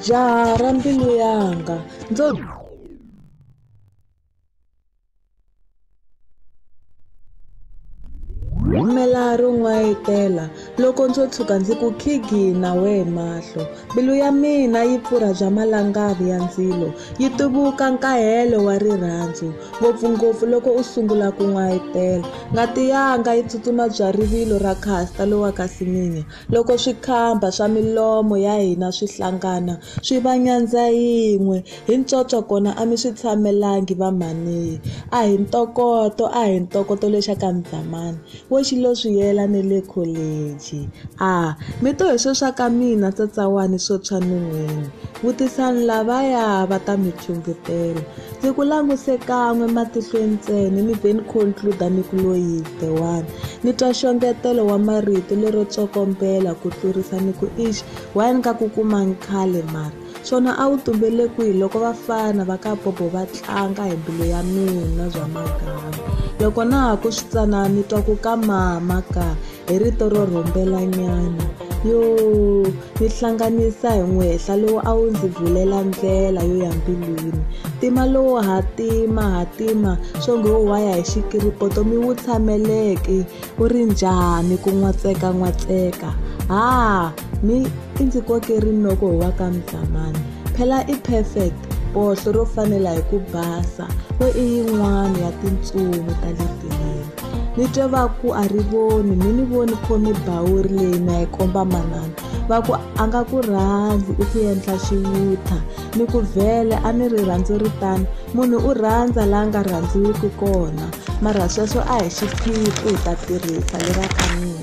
jaha ra mbilu yanga ndzo rhumela ro n'wayitela loko ndzo tshuka ndzi ku khigina wehe mahlo mbilu ya mina yi pfurha bya malangavi ya ndzilo yi tuvuka nkahelo wa rirhandzu ngopfungopfu loko u sungula ku n'wayitela ngati yanga yi tsutsuma bya rivilo ra khasta lowa ka siminya Loko swikhamba swa milomo ya hina swi hlangana swi va nyandza yin'we, hi ntswotswo kona a mi swi tshamelangi vamhaniye. A hi ntokoto, a hi ntokoto le xa ka Mdzamani, wo xi lo swi yela ni le kholeji. A mi to hi swo swa ka mina tsatsawani swo tshwa nun'hweni, vutisani lavaya va ta mi phyundzutela. Ndzi ku languse kan'we matihlweni ntsena ni ve ni concluda ni ku loyi the one ni twa xongetelo wa marito lero tsokombela ku tlurisa ni ku ix why ni ka ku kumangi khale mara swona a wu tumbele kwihi loko vafana va ka bobo va tlanga hi mbilu ya mina bya magama loko na ha ku swi tsanana ni twa ku ka mama ka hi rito ro rhumbelanyana yo ni hlanganisa hi n'wehla lowu a wu ndzi bvulela ndlela yo ya mbilwini tima lowo hatima hatima swo nge wo waya hi xikiripoto mi wu tshameleki wu ri njhani ku n'watseka n'watseka ha mi i ndzi koke rinoko hi wa ka mdlamani phela i perfect bohlo ro fanela hi ku basa wo i yin'wana ya tintsumi ta le tileni ni twe va ku a ri voni mi ni voni khome bawuri leyi na yi komba manana va ku a nga ku rhandzi i ku endla xiyutha ni ku vhele a ni ri rhandzu ri tano munhu u rhandza la nga rhandziwiki kona mara sweswo a hi xiphiqo hi ta tirhisa le va ka mina